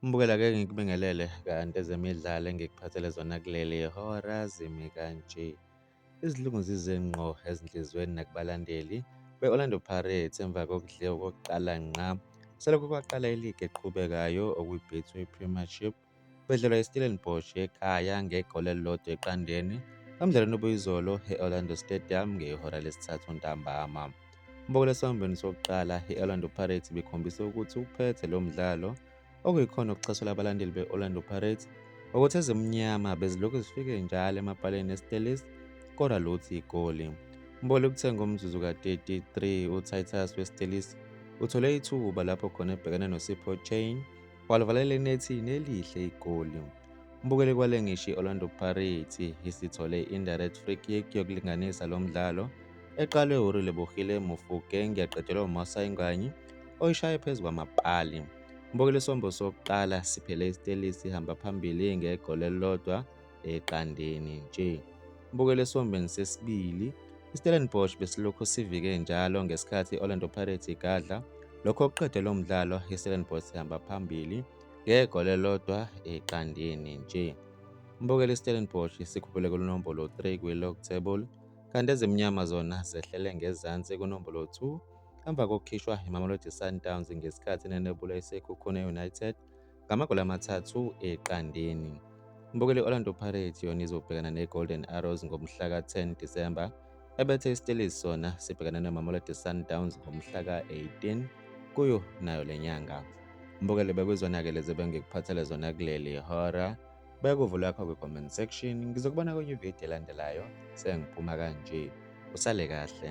Mbukela ke ngikubingelele kanti ezemidlalo engikuphathele zona kuleli hora zimi kanje. Izilungu zize ngqo ezinhliziyweni nakubalandeli be-Orlando Pirates emva kokudliwa kokuqala ngqa selokhu kwaqala iligi eqhubekayo okwiBetway Premiership Ubedlelwa iStellenbosch ekhaya ngegoli elilodwa eqandeni emdlalweni obuyizolo e-Orlando Stadium ngehora lesithathu ntambama. Umbokela esambweni sokuqala i-Orlando Pirates ibikhombise ukuthi uphethe lo mdlalo okuyikhona okucasula abalandeli be-Orlando Pirates ukuthi ezimnyama bezilokhu zifike njalo emapaleni eStellies kodwa lutho igoli. Umbokela ukuthe ngomzuzu ka-33 uTitus weStellies uthole ithuba lapho khona ebhekene noSipho Chain Walivalela enethini elihle igoli. Umbukeli kwale ngisho i-Orlando Pirates isithole indirect free kick yokulinganisa lo mdlalo eqalwe uRelebohile Mofokeng yaqedelwa uMasai Nganyi oyishaye phezu kwamapali. Umbukeli isombo sokuqala siphele iStellies sihamba phambili ngegoli elilodwa eqandeni nje. Mbukelo esiwombeni sesibili, iStellenbosch besilokhu sivike njalo ngesikhathi i-Orlando Pirates igadla. Lokho okuqede lo mdlalo iStellenbosch ihamba phambili ngegoli elilodwa eqandeni nje. Mbukelo iStellenbosch sikhuphule kunombolo 3 kwi-log table kanti ezimnyama zona zehlele ngezansi kunombolo 2 emva kokukhishwa iMamelodi Sundowns ngesikhathi nenebula iSekhukhune United ngamagoli amathathu eqandeni. Umbukeli Orlando Pirates yona izobhekana neGolden Arrows ngomhla ka-10 December ebethe iStellies sona sibhekana neMamelodi Sundowns ngomhla ka-18 kuyo nayo le nyanga. Umbukeli bekwizona-ke lezi bengikuphathele zona kuleli hora bekuvula yakho kwi-comment section ngizokubona kwenye ividiyo elandelayo sengiphuma kanje usale kahle